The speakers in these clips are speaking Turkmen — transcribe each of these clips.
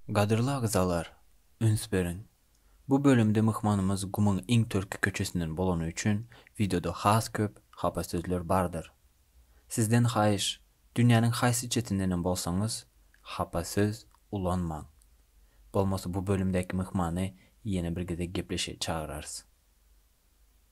Gadyrly agzalar, üns beriň! Bu bölümde myhmanymyz gumuň iň törki köçesinden bolany üçin wideoda has köp hapa sözler bardyr. Sizden haýyş, dünýäniň haýsy çetindenem bolsaňyz, hapa söz ulanmaň. Bolmasa bu bölümdäki myhmany ýene bir gezek gepleşe çagyrarys.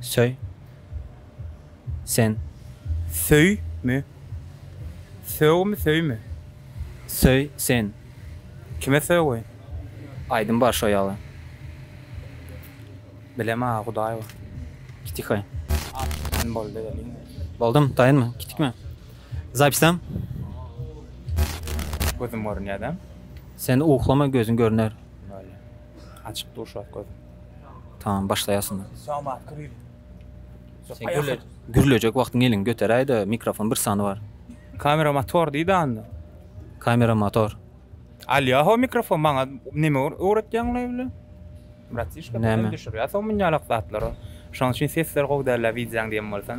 Söý. Sen. Söý. Mi. Sög. Mi. Söý. Mi. Söý. Sen. Kime sögüy. Aýdym bar şo ýaly. Bilem aga hudaý bar. Kitikaý. Sen boldy welin. Boldum taýynmy kitikmi. Zapisdam. Gözüm görünýä däm. Sen uklama gözün görüner. Bolýa. Açyk dur şo wagt gözüm. Tamam başlaýasyn. Sen gürle gürlejek wagtyň eliňi göteräýdä mikrofon bir sany bar. Kamera motor diýdi anda. Kamera motor. Alýa ho mikrofon maňa näme öwretýäň ola bile. Bratişka Näme? bilen düşürýä soň munýalak zatlary. Şoň üçin sesler gowy dälä wideoň diýen bolsaň.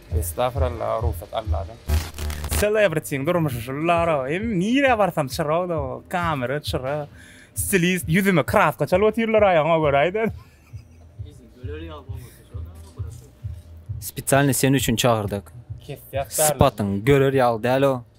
Estagfirallah rugsat Alladan. Selebritiň durmuşy şul Lara hem nirä barsam çyrag da kamera çyra stilist ýüzüme kraska çalyp otyrlar aýagyňa görä aýdan. Spesialny sen üçin çagyrdyk. Kesýak däl. Sypatyň görer ýaly däl o.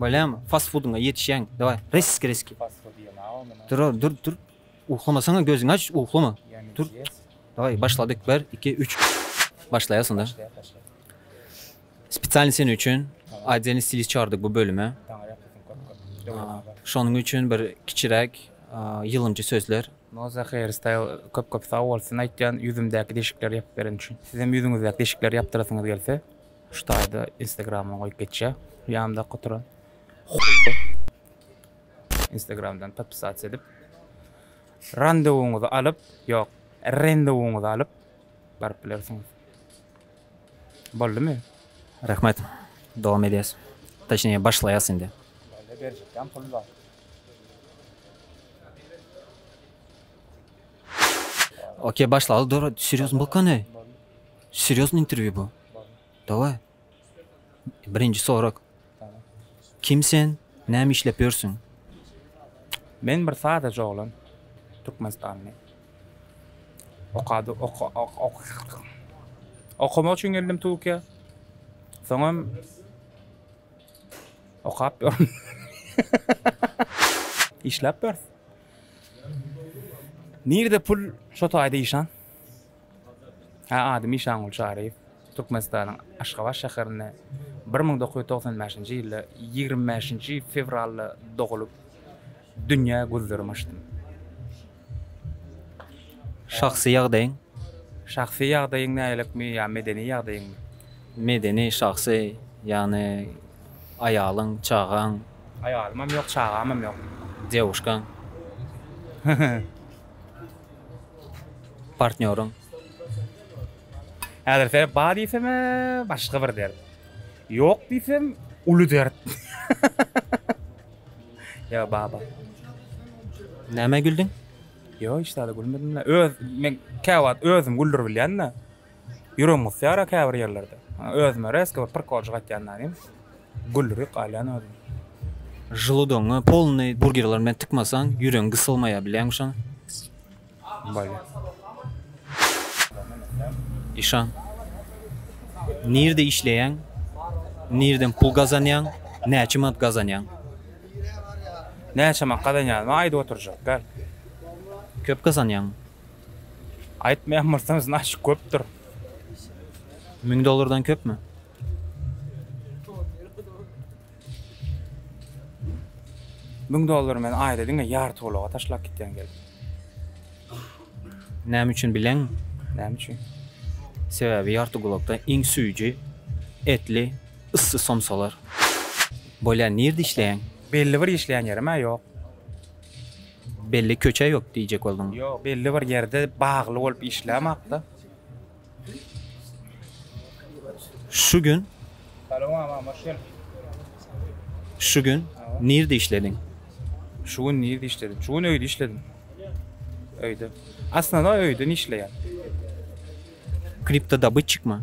Bolýamy? Fast foodyňa ýetişýäňmi? Daway, rezki, rezki. Fast food ýeme-a ondan. Durar, dur, dur. Uhlamasaň-a gözüňi aç, uhlama. Dur. Daway, başladyk. Bir, iki, üç. Başlaýasyn-da. Başlaýas, başlaýas. Spesialny seniň üçin Otdelniý stilist çagyrdyk bu bölüme. Taňry ýalkasyn, köp, köp. Döwletnabat. Şonuň üçin bir kiçiräk ýylgynjy sözler. Moza Hair Style köp, köp sag bolsun aýtýan ýüzümdäki deşikleri ýapyp bereni üçin. Sizem ýüzüňizdäki deşikleri ýapdyrasyňyz gelse. Şu taýda instagrama goýup geçýär. Ýanymda oturan hoýly instagramdan podpisasiýa edip randewyňyzy alyp, ýok, rendewyňyzy alyp baryp bilersiňiz. Boldumy? Rahmet. Dowam edýäs. Toçnije başlaýas indi. Bäle berjekkäm pul bar. Okey başlaly dur. Serýozny bokany. Serýozny interwýu bu. Daway. Birinji sorak. Kim sen? Näme işlep ýörsüň? Men bir sadaja oglan. Türkmenistanly. Okady, ok, ok, ok, ok. Okamak üçin geldim Türkiýä. Soňam okap ýörün. Işläp ýörüs. Nirede pul, şo taýda işan. Ady Mişangul Çaryýew Türkmenistanyň Aşgabat şäherinde bir müň dokuz ýüz togsan bäşinji ýylda ýigrimi bäşinji fewralda dogulyp, dünýä gözlerim açdym. Şahsy ýagdaýyň? Şahsy ýagdaýyň nägilikmi ýa medeni ýagdaýyňmy? Medeni, şahsy, ýagny aýalyň, çagaň? Aýalymam ýok, çagamam ýok. Dýawuşkaň? Partnýorym. Häzir sebäp bar diýsem, başga bir dert. Ýok diýsem, uly dert. Ýa baba. Näme güldüň? Ýok, hiç zada gülmedim-le. Öz men käwagt özüm güldürip bilýän-de. Ýüregim gysýara käbir ýerlerde. Özüme rezki bir prikoljyk aýtýan danym. Gülrüp galýan özüm. Želodogyňy polnyý burgerler bilen tykmasaň ýüregiň gysylmaýar bilýäňmi şony? Bolýar. Işan. Nirde işleýäň? Nirden pul gazanýaň? Näçe manat gazanýaň? Näçe manat gazanýanymy aýdyp oturjak däl. Köp gazanýaňmy? Aýtmaýan bolsaňyz naşyk köpdür. Müň dollardan köpmi? Müň dollary men aýda diňe ýarty ulaga taşlap gitýän gelip. Näme üçin bileňmi? Näme üçin? Sebäbi ýarty gulakda iň süýji, etli, yssy somsalar. Bolýa nirde işleýäň? Belli bir işleýän ýerim-ä ýok. Belli köçe yok diyjek bolduň. Yok belli bir yerde bagly bolup işlemakda. Şu gün. Salam ama hoş geldin. Şu gün nirde işledin? Şu gün nirde işledim? Şu gün öyde işledim. Öyde. Aslında öyde işleyen. Kripto dabıçık mı?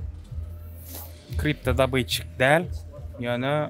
Kripto dabıçık değil. Yani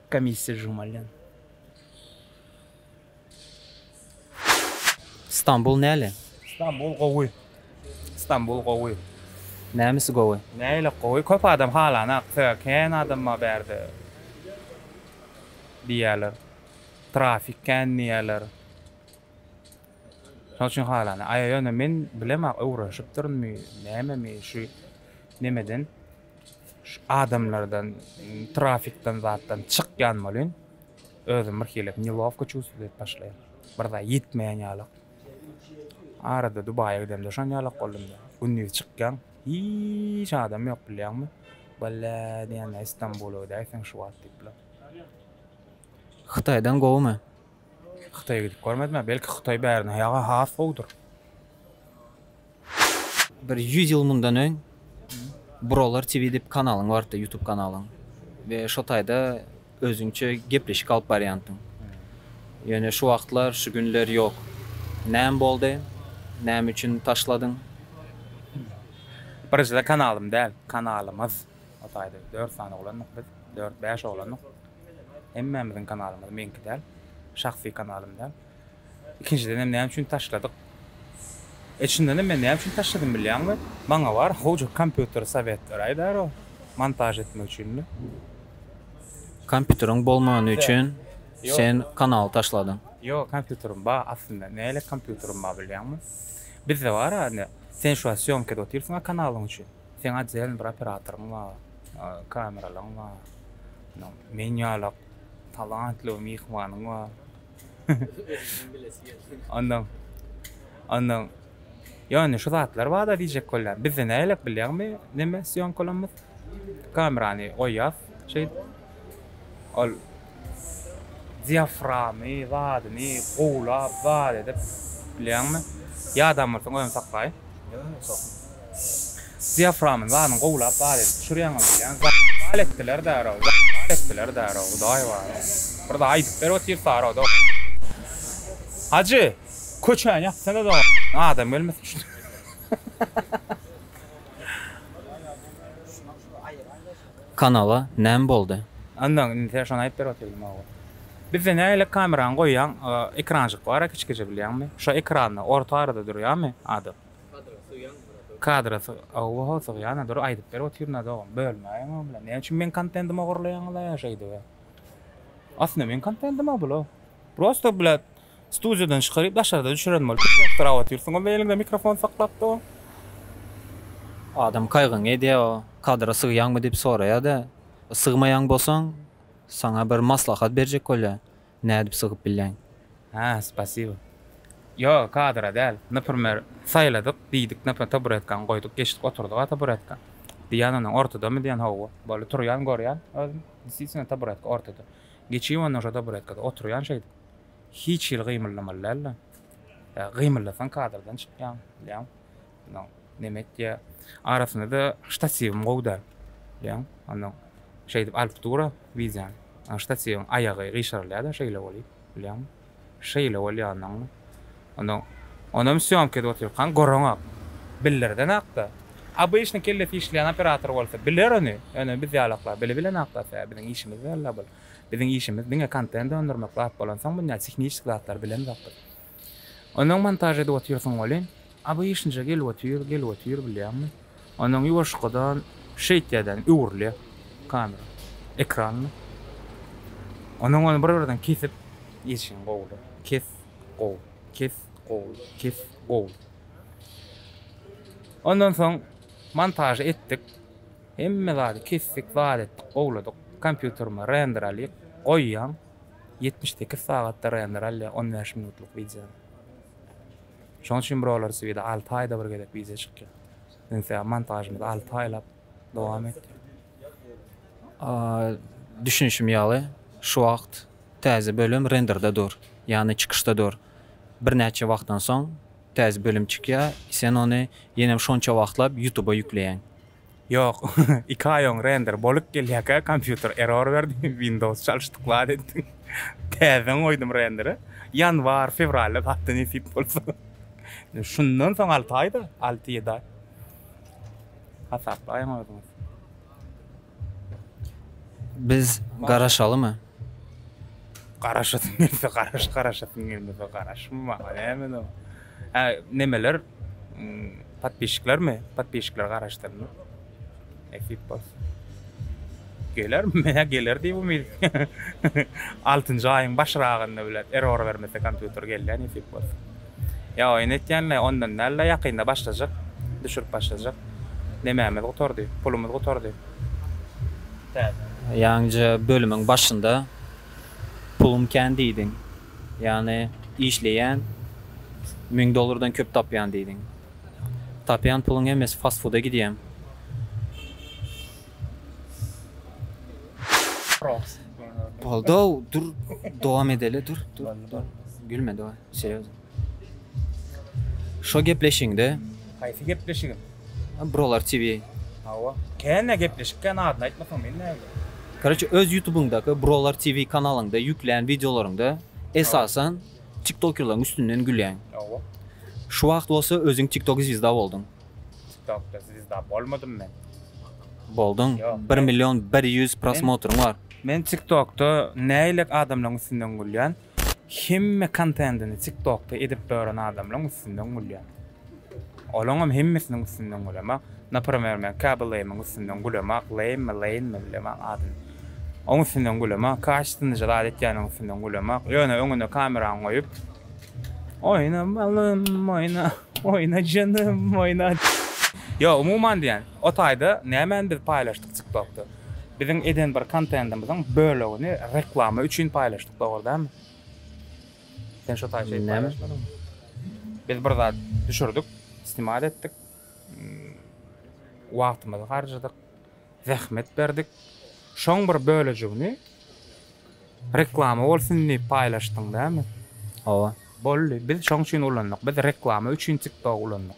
Komissiýa žurmalýan. Stambul näle? Stambul gowy. Stambul gowy. Nämesi gowy? Nähili gowy? Köp adam halanak söýer. Kän adam bar bärde diýýärler. Trafik kän diýýärler. Şonuň üçin halanak. Aýa ýöne men bilemok öwrenşipdirmi, nämemi şu nemeden Şu adamlardan trafikden zatdan çykýan bolýn. Özüm bir hili nelowko çuwstwo edip başlaýan. Bir zat ýetmeýän ýalak. Arada Dubaýa gidemde şon ýalak boldum. Gündiz çykýan hiç adam ýok bilýäňmi? Walla diýýän Istanbula gidäýseň şu wagt diýipler. Hytaýdan gowumy? Hytaýa gidip görmedim-ä, belki Hytaý bärden has gowudyr. Bir ýüz ýyl mundan öň Brolar TV diýip kanalyň bardy, ýutub kanalyň. We şo taýda özüňçe gepleşik alyp barýandyň. Ýöne şu wagtlar, şu günler ýok. Näme boldy? Näme üçin taşladyň? Birinjiden kanalym däl, kanalymyz. O taýda dört sany oglandyk biz. Dört, bäş oglandyk. Hemmämiziň kanalymyz, meňki däl. Şahsy kanalym däl. Ikinjidenem näme üçin taşladyk? E çyndanam men näme üçin taşladym bilýäňmi? Maňa bar howja kompýuter sowetleri aýdar o montaž etmek üçinmi? Kompýuteriň bolmany üçin sen kanaly taşladyň. Ýok kompýuterim bar aslynda. Nälik kompýuterim bar bilýäňmi? Bizde bar-a indi. Sen şu wagt sýomkada otyrsyň-a kanalyň üçin. Seň otdelny bir operatoryň bar. Kameralaň bar. Meniň ýalak talantly bir myhmanyň bar. Ondan ondan ýöne şu zatlar bada diýjek bolýan. Bizde nälelik bilýäňmi? Neme sýomkalamyz? Kamerany goýýas şeý. Ol diaframy, zadyny gowlap, zat edip bilýäňmi? Ýadamyrsyň özüni saklaýyn. Ýa, sokun. Diaframyny baryny gowlap bar edip düşürýäňiz diýýän zaýat bal etdiler därow zaýat bal etdiler därow hudaý bar bir zat aýdyp berip otyrsarw dogan Hajy köçäni ýapsana dogan adam gelmesin şu Kanala näme boldy. Ondan indi sen şony aýdyp berip otyrdym oba. Bizde nägile kamerany goýýaň ekranjyk bara kiçgeje bilýäňmi? Şo ekranda orta arada durýamy adam? Kadra sygýandyr-a dur. Kadra syg. Hawa-hawa sygýan-a dur aýdyp berip otyryn-a dogan. Bölmäýeň o bilen. Näme üçin meň kontentimi ogurlaýaňyz-a şeýdip-ä? Aslynda meň kontentim-a bul-a. Prosta blat studiýadan çykaryp daşarda düşüren bolup çykjakdyr-a otyrsyň o bilen eliňde mikrofon saklap dogan. Adam kaýgyňy edýä-a. Kadra sygýaňmy diýip soraýa-da. Sygmaýan bolsaň saňa bir maslahat berjek bolýa. Nädip sygyp bilýäň? Hä, spasibo. Ýo, kadra däl. Naprmer, saýladyk, diýdik, naprmer, taburetkaňy goýduk, geçdik, oturdyk-a taburetka. Diýýän onam, ortadamy diýýän, hawa. Boldy, turýan, görýän, özüm, desiýsine, taburetka ortada. Geçýän ondan şo taburetkada, oturýan şeýdip. Hiç hili gymyldamaly däl-de. Ýa, gymyldasaň, kadrdan çykýaň, bilýäň. Ondan neme etýär. Arasynda-da ştatiwym gowy däl. Bilýäňmi? Ondan şeýdip alyp dur-a wideony. Onuň ştatiwiň aýagy gyşarylýar-da şeýle bolýar. Bilýäňmi? Şeýle bolýar onnoň. Onda onem sýomka edip otyrkaň göreňok. Bildirdenak-da. Obyçnyý kellesi işleýän operator bolsa biler ony. Ýöne biz ýalaklar bili bilenak-da tä. Biziň işimiz däl-la bul. Biziň işimiz diňe kontent öndürmek zat bolansoň munýa tehnişik zatlary bilemzok biz. Onuň montaž edip otyrsyň welin, obyşnyja gelip otyr, gelip otyr bilýäňmi? Onuň ýuwaşkadan şeýtýädäni öwrülýär kamera, ekranly. Onuň ony bir-birden kesip geçişiň gowular. Kes, gow, kes, gow, kes, gow. Ondan soň montažy etdik. Hemme zady kesdik, zat etdik, gowladyk. Kompýuterime render alyp goýýan. ýetmiş sekiz sagat daraýan ralli on bäş minutlyk wideo. Şoň üçin brolar swida alty aýda bir gezek wideo çykýar. Ynse montažymyz alty aýlap dowam etdi. Düşünişim ýaly, şu wagt täze bölüm renderde dur, ýagny çykyşda dur. Birnäçe wagtdan soň täze bölüm çykýar, sen ony ýenem şonça wagtlap ýutuba ýükleýäň. Ýok, iki aý oň render bolyp gelýäkä kompýuter error berdi, Windows çalyşdyk zat etdik. Täzeden goýdum renderi. Ýanwar, fewralda zat-da nesip bolsa. Şundan soň alty aý-da, alty-ýedi aý. Hasaplaýyň özüňiz. Biz garaşalymy? Garaşasyň gelse garaş, garaşasyň gelmese garaşma, maňa näme-de. Hä nemeler podpişiklermi podpişikler garaşdyrmy nesip bolsa geler menä geler diýip umyt altynjy aýyň başragynda bilet error bermese kompýuter gelýär nesip bolsa ýa oýun etýänle ondan dälde ýakynda başlajak düşürip başlajak nemämiz gutardy pulumyz gutardy täze ýaňja bölümiň başynda pulum kän diýdiň. Ýagny işleýän, müň dollardan köp tapýan diýdiň. Tapýan puluň hemmesi fast-fuda gidýämi? Goldaw, dur, dowam edeli, dur, dur, dur. Gülme, daway, serýozno. Şo gepleşigiňde. Haýsy gepleşigim? Brolar TV. Hawa. Kän gepleşik kän adyny aýtmasaň men näbileýin. Koroçe öz ýutubyňdaky Brolar TV kanalyňda ýüklän wideolaryňda esasan tiktokerlaryň üstünden gülýäň. Hawa. Şu wagt bolsa özüň tiktok zwizda bolduň. Tiktokda zwizda bolmadym men. Bolduň. Bir million bir ýüz prosmotryň bar. Men tiktokda nähili adamlaryň üstünden gülýän? Hemme kontentini tiktokda edip dören adamlaň üstünden gülýän. Olaňam hemmesiniň üstünden gülema. Naprmer men Käbir Lame'iň üstünden gülema. Lame mi Lane mi bilemän adyny. Oň üstünden gülema. Kaş syndyja zat etýäniň üstünden gülema. Ýöne öňüne kameraňy goýup Oýna balym oýna oýna janym oýna. Ýok umuman diýen o taýda nämeni biz paýlaşdyk tiktokda. Biziň eden bir kontentimiziň bölegini reklama üçin paýlaşdyk dogry dälmi? Sen şo taýy şeýdip paýlaşmadyňmy? Biz bir zat düşürdik, snimat etdik. Wagtymyzy harjadyk, zähmet berdik. Şoň bir bölejigini reklama bolsun diýip paýlaşdyň dälmi? Hawa. Boldy. Biz şoň üçin ulandyk. Biz reklama üçin TikTok ulandyk.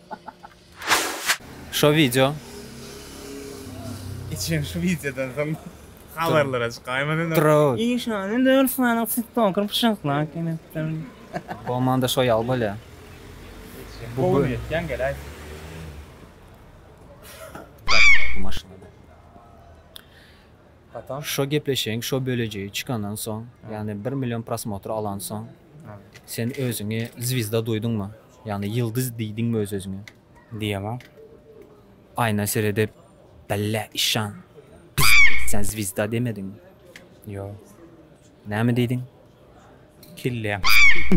Şo wideo. Geçen şu wideodan soň habarlara çykaýmaly indi. Drak. Işan indi Ruslanyň tiktoker pyşaklap gelepdir. Bolmanda şo ýaly bolýa. Gowy niýetden geläý. Bu maşynada. Hatam. Şo gepleşigiň şo bölejigi çykandan soň, ýagny bir million prosmotr alansoň, sen özüňi zwizda duýduňmy? Ýagny ýyldyz diýdiňmi öz özüňe? Diýemok. Aýna seredip, Belle, işan, sen zwizda demediňmi? Ýok. Näme diýdiň? Kelläm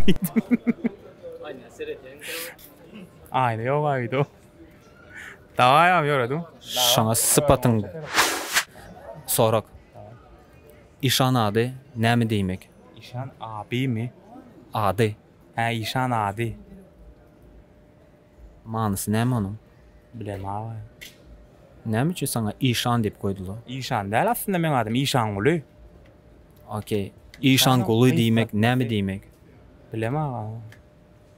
diýdim. Aýna ýoga öýde. Dawaýam ýöredim. Şoňa sypatyň Sorag. Işan ady näme diýmek? Işan adymy? Ady. Hä işan ady. Manysy näme onuň? Bilem agam. Näme üçin saňa Işan diýip goýdular? Işan däl aslynda meň adym Işanguly. Ok. Işanguly diýmek näme diýmek? Bilem agam.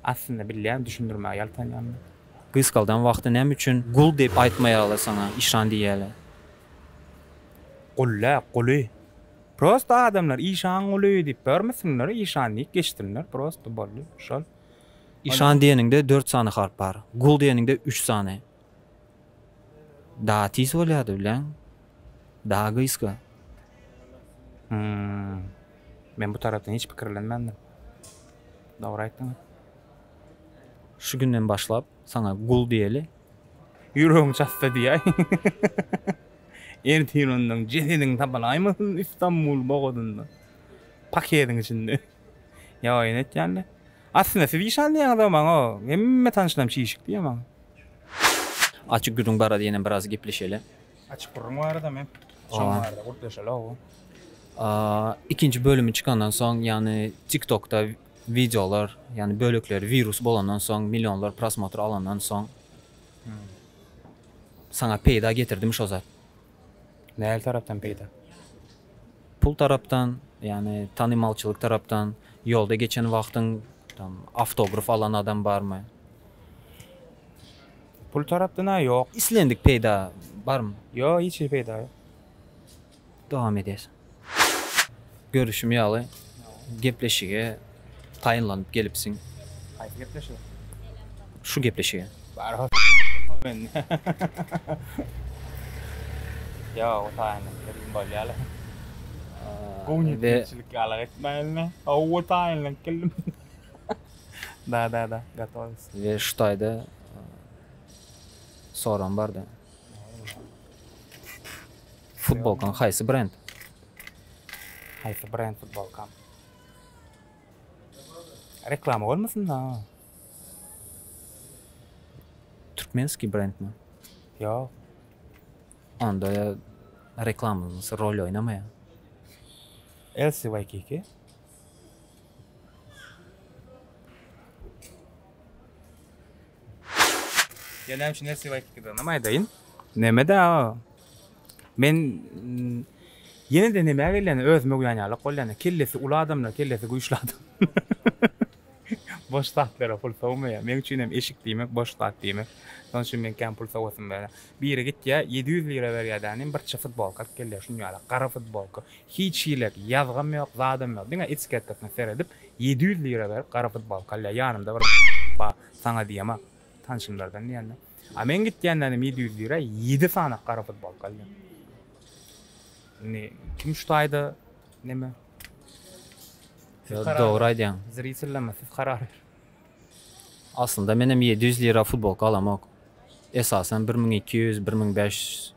Aslynda bilýän düşündirmäge ýaltanýan. Gysgaldan wagty näme üçin gul diýip aýtmaýarlar saňa işan diýýäler? Gullä, guly. Prosta adamlar işan guly diýip görmesinler, işan diýip geçsinler, prosta boldy, şol. Işan diýeniňde dört sany harp bar, gul diýeniňde üç sany. Daha tiz bolýardy bileň. Daha gysga. Hmm. Men bu tarapdan hiç pikirlenmändim. Dogry aýtdyň. Şu günden başlap saňa gul diýeli. Ýüregiň çatsa diýäý. Ertir ondan jesediň tapylaýmasyn Istanbul bogadynda. Paketiň içinde. Ýaýyny etýänler. Aslynda siz işan diýýäňiz-ow maňa. Hemme tanyşlarym çişik diýýär maňa. Açyk gürrüň barada ýene biraz gepleşeli. Açyk gürrüň baradam hem şoň barada gürpleşeli-ow. Ikinji bölümi çykandan soň, ýagny TikTokda Wideolar, ýagny bölekleri wirus bolandan soň, millionlar prosmotr alandan soň saňa peýda getirdimi şo zat? Nähili tarapdan peýda? Pul tarapdan, ýagny tanymalçylyk tarapdan, ýolda geçen wagtyň tam awtograf alan adam barmy? Pul tarapdan-a ýok. Islendik peýda barmy? Ýok, hiç hili peýda ýok. Dowam edýär. Görüşim ýaly, gepleşige taýynlanyp gelipsiň. Haýsy gepleşige? Şu gepleşige. Barha s***ma meni. Ýok, taýynlanyp geldim bolýaly. Gowy niýetlilikçilik ýalyk etme indi. Hawa, taýynlanyp geldim. Da-da-da, gatowyz. We şu taýda soram bar-da. Futbolkaň haýsy brend? Haýsy brend futbolkam? Reklama bolmasyn da? Türkmenski brendmi? Ýok. Onda reklamamyz rol oýnamaýar. Elsi Waikiki. Gelem şu nersi bayt gidenim aydayın. Neme de o. Men mm, yine de neme geleni özüme güyan yalık ol yani. Kellesi ulu adamlar, kellesi güçlü adam. boş zatlara pul sowmaýar. Meň üçin hem eşik diýmek boş zat diýmek. Şonuň üçin men kän pul sowasym bar. Biri gitýär 700 lira berýär dänim bir çy futbolka alyp gelýär şuny ýaly gara futbolka. Hiç hilek ýazgam ýok, zadam ýok, diňe etiketkasyna seredip, ýedi ýüz lira berip gara futbolka alýar, ýanymda bir bar, saňa diýemok, tanşymlardan diýende. A men gitýände inem ýedi ýüz lira ýedi sany gara futbolka alýan. Indi kim şu taýda neme? Ýok, dogry aýdýaň. Zritellerme siz karar beriň. Aslynda menem ýedi ýüz lira futbolka alamok. Esasan bir müň iki ýüz, bir müň bäş ýüz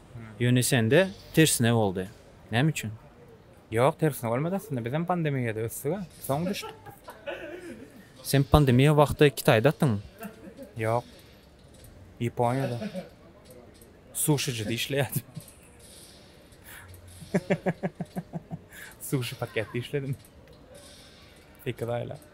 Ýöne sende tersine boldy. Näme üçin? Ýok, tersine bolmady aslynda. Bizem pandemiýada ösdük-ä. Soň düşdük. Sen pandemiýa wagty Kitaýdatyň? Ýok. Ýaponiýada. Suşijide işleýärdim. Suşi paketde işledim. Iki aýlap.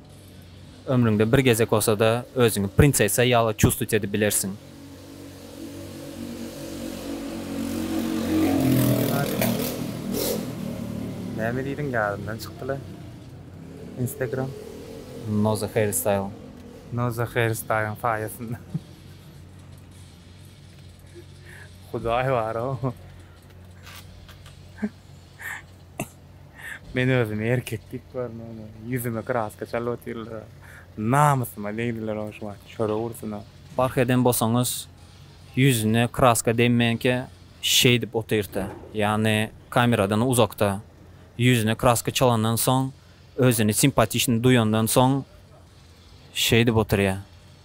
Ömrüňde bir gezek bolsa-da özüňi prinsessa ýaly çustuýt edip bilersiň. Näme diýdiň ýadymdan çykdyla instagram. Noza hair style. Noza hair style-yň saýasynda. Hudaý bar-ow. Men özümi erkek diýip görmäne, ýüzüme kraska çalyp otyrlar-a. Namysyma degdiler-ow şu wagt, çöre ursun-a. Bark eden bolsaňyz, ýüzüne kraska degmänkä şeýdip otyrt-a, ýagny kameradan uzakda. Ýüzüne kraska çalandan soň, özüni simpatiçny duýandan soň şeýdip otyrýa.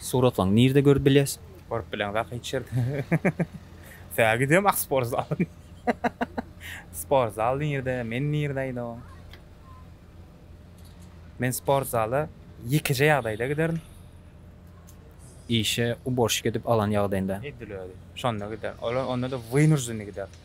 Suratlaň nirde görüp biles. Görüp bileňiz ahy hiç ýerde. Sä gidem ah sport zal. Sport zal nirde men nirde aýdaw. Men sport zala ýekeje ýagdaýda giderin. Işe uborşik edip alan ýagdaýynda. Edil özi. Şonda giderin. Ol onda-da wynurzennyý giderin.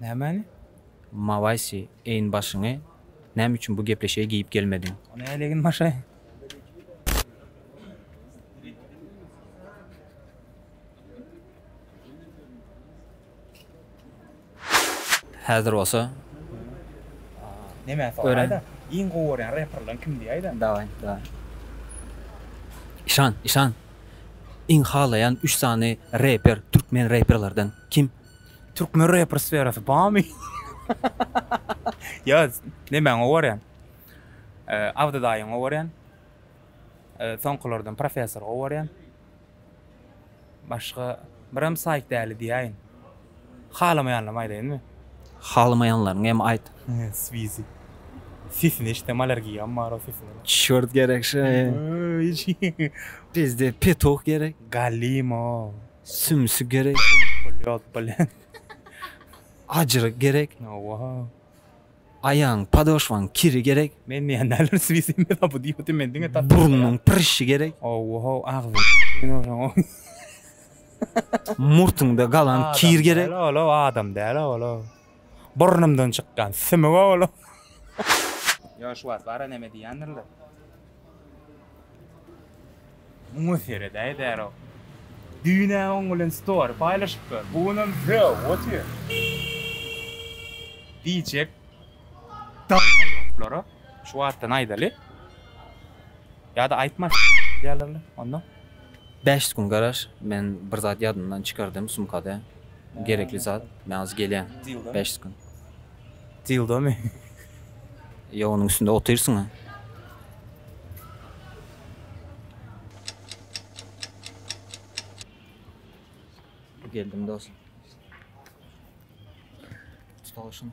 Nämäni? Mawaisi, eýin başyňy, näme üçin bu gepleşige geýip gelmediň? Ony hälegin maşaýyň. Häzir bolsa, Näme, soraý, da. Iň gowy görýän reperleriň kim diýäý, da. Dawaý, dawaý. Işan, işan, iň halaýan üç sany reper, türkmen reperlerden kim? Türkmen reper sferasy barmy? Ýa nemäňe gorýan? Abdy daýyňa gorýan? Soňkulardan professora gorýan? Başga birem saýt däli diýäýin. Halamaýanlarymy aýdaýynmy? Halamaýanlaryňy hem aýt. Swizi. Sesine eşidem allergiýam bar o sesine. Çört gerek şeý. Bizde petuh gerek. Galimo. Sümsi gerek. Polýa alyp bolýan. Ajyry gerek. Hawa. Aýagyň, podoşwaň kiri gerek. Men diýen däldir swisem ýa bu diýip otyr men diňe tap. Burnuň prişi gerek. Hawa, agzyň. Murtuňda galan kir gerek. Ol adam däl ol. Burnumdan çykýan sümüge bolan. Ýoş wagt bara neme diýýändirler. Muňa seredäý därok. Düýn-ä oň bilen story paýlaşypdym. Bu günem sög otyr. Diýjek dalbaýoplara şu wagtdan aýdaly. Ýa-da aýtmasyn diýýärlermi onda? Bäşis gün garaş men bir zat ýadymdan çykardym sumkada gerekli zat men hazir gelýän bäşis gün. Dildomy? Ýok onuň üstünde otyrsyňa. Geldim dos. Tutalşyn.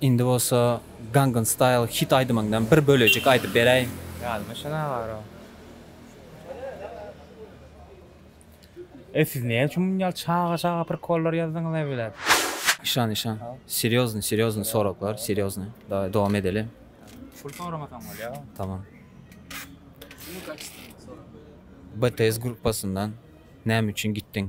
Indi bolsa Gangnam Style hit aýdymyňdan bir bölejik aýdyp beräý. Ýadyma şonda baro. Ey siz näme üçin munýaly çaga çaga prikollar ýazdyňyz ey bilet. Işan işan serýozny serýozny soraglar serýozny daway dowam edeli. Pul soramasaň bolýar. Tamam. BTS gruppasyndan näme üçin gitdiň?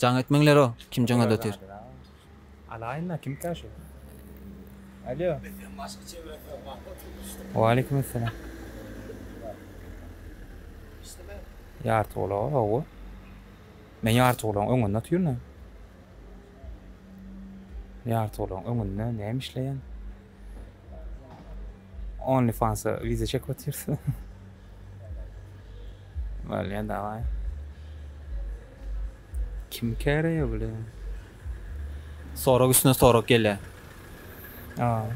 Jaň etmeňler o kim jaňada otyr. Alaýynda kimkä şu. Alýo. Waleýkim essalam. Ýarty gulaga hawa. Men ýarty gulagyň öňünde otyryn. Ýarty gulagyň öňünde näme işleýän? Only fansa wiza çekip otyrys. Bolýa daway. Kim käreýe bile. Sorag üstüne sorag gelýä. A.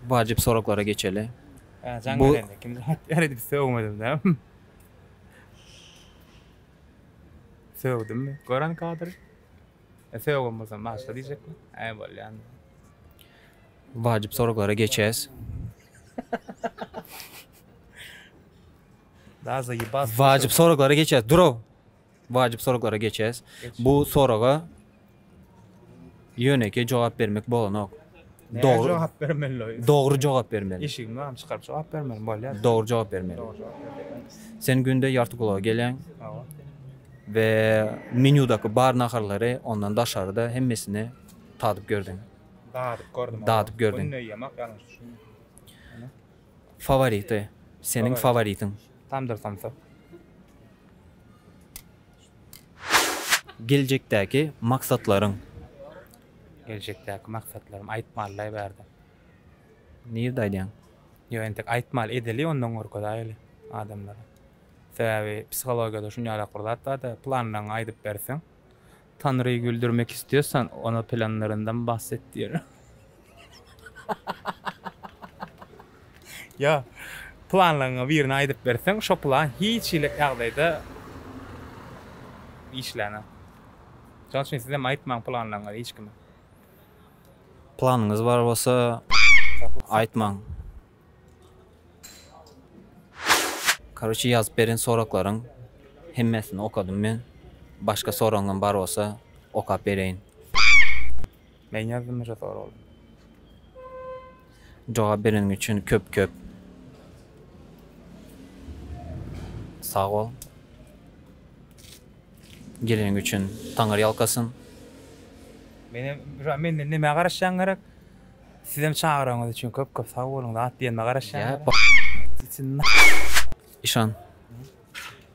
Wajyp soraglara geçeli. Ä jaň Bu- berende kim jogap ber edip sögmedim dä. Sögdümmi? Gören kadr. Söýgen bolsam başga diýjekmi? Äý bolýan. Wajyp soraglara geçýäs. Daza ýybas. Wajyp soraglara geçýäs. Duraw. Wajyp soraglara geçýäs. Bu soraga ýönekeý jogap bermek bolanok. Dogry jogap bermeli. Dogry jogap bermeli. Eşigimi bagym çykaryp jogap bermeli bolýar. Dogry jogap bermeli. Sen günde ýarty gulaga geleň. We menýudaky bar naharlary ondan daşaryda hemmesini tadyp gördüň. Dadyp gördüm. Dadyp gördüň. Günde ýemak ýalňyş düşünme. Fawority. Seniň faworitiň. Tamdyr samsa. Geljekdäki maksatlaryň. Geljekdäki maksatlarym aýtmallaý bärde. Nirde aýdýaň? Ýok entek aýtmaly edeli ondan görkezäýeli adamlara. Sebäbi psihologiýada şunýalak bir zat barda planlaryňy aýdyp berseň Tanryy güldürmek istiyorsan ona planlarından bahset diýer. Ýa, planlaryňy birine aýdyp berseň, şo plan hiç hili ýagdaýda işlänok. Şonuň üçin siz hem aýtmaň planlaryňyzy hiç kime. Planyňyz bar bolsa, aýtmaň. Karoçi ýazyp beren soraklaryň hemmesini okadym men. Başga soragyňam bar bolsa okap bereýin. Men ýazdym şu soragy. Jogap bereniň üçin köp köp sag bol. Geleniň üçin Taňyr ýalkasyn. Menem şu menden nämä garaşýaň gerek? Sizem çagyranyňyz üçin köp köp sag boluň zat diýenime garaşýaň gerek. Işan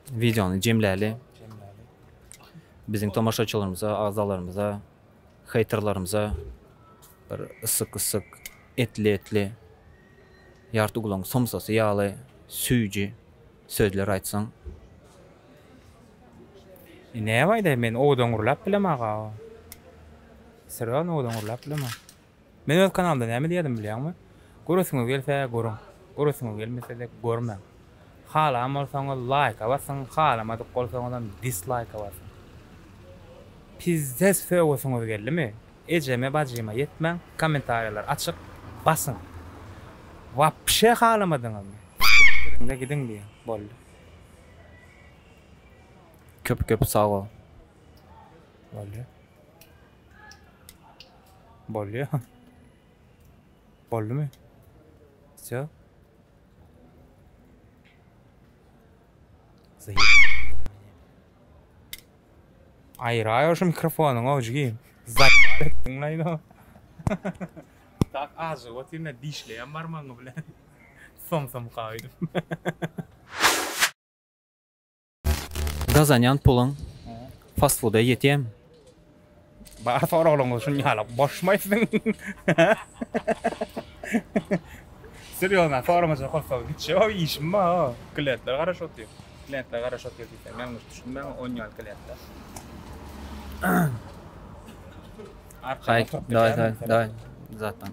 wideony jemläli. Biziň tomaşaçylarymyza, agzalarymyza. Heýterlarymyza bir ysyk ysyk etli etli ýarty gulagyň somsasy ýaly süýji sözler aýtsaň. Näme aýdaýyn men owadan gürläp bilem aga. Syrygam owadan gürläp bilemok. Men öz kanalymda näme diýerdim bilýäňmi? Göresiňiz gelse görüň, göresiňiz gelmese-de görmäň. Halan bolsaňyz laýka basyň, halamadyk bolsaňyzam dislaýka basyň. Pizzez sögesiňiz geldimi? Ejeme, bajyma ýetmäň, kommentariýalar açyk, basyň. Wapşe halamadyňyzmy? Sikdiriň-de gidiň diýiň, boldy. Köp köp sag bol. Boldy. Bolýa. Boldumy? Sýa. Aýraýa şu mikrofonyň ojigi. Zaýat etdiň laýyn o. Tak azyk otyryn da dişleýän barmagyň bilen. Som som kaýdym. Gazanýan puluň fast fooda ýetýärmi? Bar soraglaryňyz şunuň ýaly. Boşmaý siziň. Serýozna soramaja goýsaň hiç ýok işim bar. Klientler garaşyp otyr. Klientler garaşyp otyr diýseň ýalňyş düşünmäň on ýaly klientler. Arkaýyn oturyp biljäň. Daý daý daý zatdan.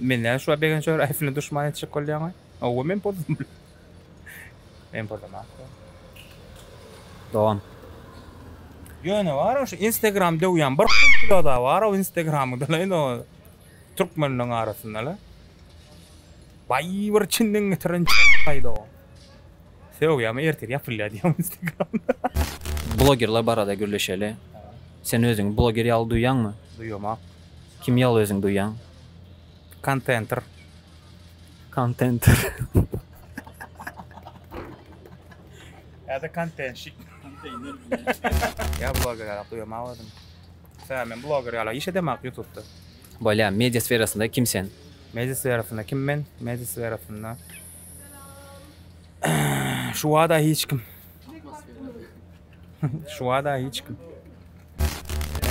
Men näme şuwagt begenç Öraýewiň duşmany etjek bolýaňa? Hawa men pozum. Men pozamokda. Dogan. Ýöne bar-a şu Instagram döwýän bir kukla-da bar-a o Instagramyda-la o türkmenleriň arasynda-la. Baý bir çinden getiren çagaýdy o. Sögýämi ertir ýapylýar diýýämi Instagram. Blogerler barada gürleşeli. Sen özüňi bloger ýaly duýýaňmy? Duýamok. Kim ýaly özüň duýýaň? Kontenter. Kontenter. Ýa-da kontenşik. Ýa bloger ýalak duýamak özümi. Sä, men bloger ýalak iş edemak ýutupda. Bolýa, media sferasynda kim sen? Media sferasynda kim men? Media sferasynda şu bada hiç kim. Şu wada hiç kim.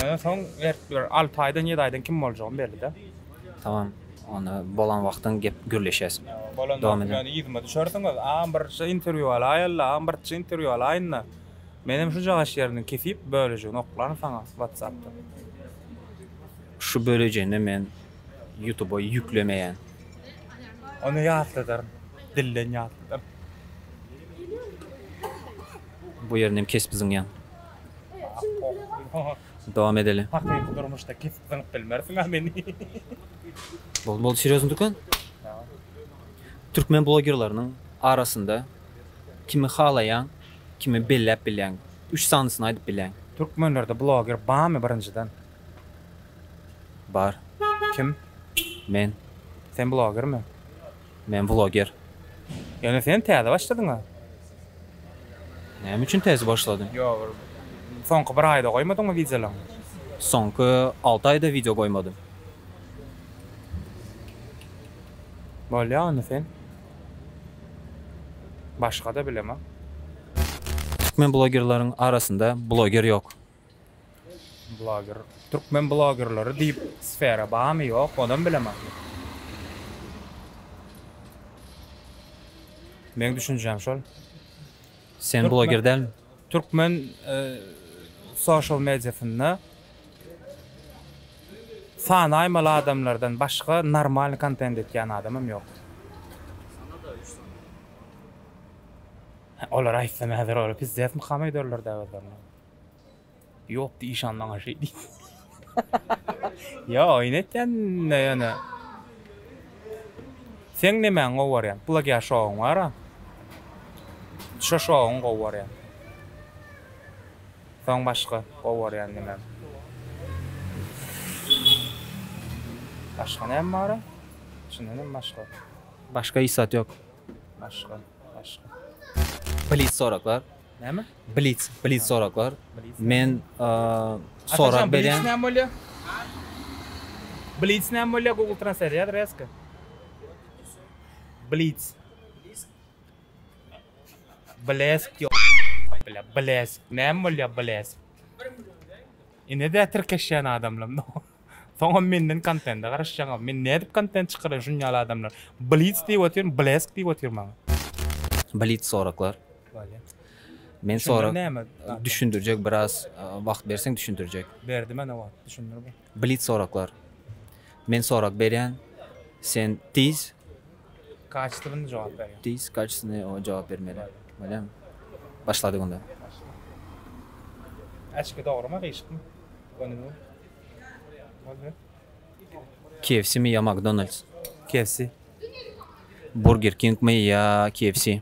Ondan soň berip dur. 6 aýdan 7 aýdan kim boljagyny belli de. Tamam. Onda bolan wagtyň gep gürleşýäs. Bolan wagty ýöne yzyma düşersiňiz. Agam birje interwýu alaýyl-la, agam birje interwýu alaýyn-da. Menem şujagaş ýerini kesip, bölejigini oklaryn saňa WhatsApp-dan. Şu bölejini men Ýutuba ýüklemeýän. Ony ýatladaryn. Dilden ýatladaryn. Bu ýerini hem kesip zyňýan. Dowam edeli. Hakyky durmuşda kesip zyňyp bilmersiň a meni. Bol bol serýozny dükan. Türkmen blogerleriniň arasynda kimi halaýaň, kimi belläp bilýäň. Üç sanysyny aýdyp bilýäň. Türkmenlerde bloger barmy birinjiden? Bar. Kim? Men. Sen blogermi? Men bloger. Ýöne sen täze başladyňa. Näme üçin täze başladym? Ýok bir soňky bir aýda goýmadyňmy wideolaň? Soňky alty aýda wideo goýmadym. Bolýa onda sen. Başgada bilemok. Türkmen blogerleriň arasynda bloger ýok. Bloger. Türkmen blogerleri diýip sfera barmy ýok onam bilemok. Meň düşünjäm şol. Sen bloger dälmi? Türkmen social mediasynda sanaýmaly adamlardan başga normalny kontent etýän adamam ýok. Sanada üç sany. Olar aýtsam häzir olar pizdes mykam öýderlerda özlerini. Yok diye işan bana şey değil. ya oyun etken ne yani. Sen ne men o var ya. Plak ya şovun var ha. Şu şovun o var ya. Son başka o var ya ne men. Başka ne var ha? Şimdi ne başka? Başka isat yok. Başka. Başka. Please soraklar. Näme? Blitz, blitz soraklar. Men sorag berýän. Näme bolýar? Blitz näme bolýar? Google Translate ýa reska. Blitz. Blesk ýok. Bile, blesk. Näme bolýar blesk? Ine de tirkeşýän adamlar. Soňam menden kontente garaşýaňam. Men nädip kontent çykarýan şunýaly adamlar. Blitz diýip otyryn, blesk diýip otyryn maňa. Blitz soraklar. Men sora düşündirjek biraz wagt berseň düşündirjek. Berdi mana wagt düşündir bu. Blitz soraklar. Men sorak berýän. Sen tiz kaçtygyny jogap berýän. Tiz kaçtygyny jogap bermeli. Bolýamy? Başladyk onda. Äçki dogrymy gyşykmy? Gönümi? Bolýar. KFC mi ýa McDonald's? KFC. Burger King mi ýa KFC?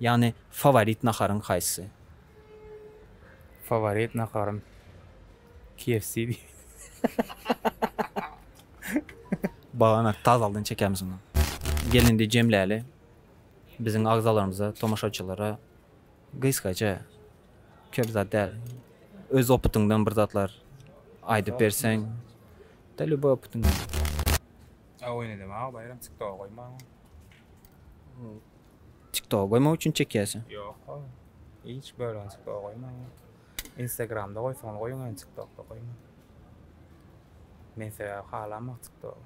Ýagny faworit naharyň haýsy? Faworit naharym KFC diýip. Baganat tazaldan çekämiz ony. Gel indi jemläli biziň agzalarymyza, tomaşaçylara gysgaça, köp zat däl, öz opytyňdan bir zatlar aýdyp berseň, da lýuboý opytyňdan. Abone edem aga baýram tiktoga goýmaň. Tiktoka goýmak üçin çekýäsiň. Ýok ow. Hiç bölüni tiktoka goýmaň. Instagramda goýsaňyz goýuň indi tiktokda goýmaň. Men sebäbi halamok tiktogy.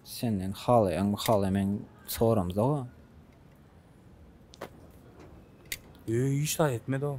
Senden halaýaňmy halaýmaň soramzok-a. Öý hiç zat etmedi-ow.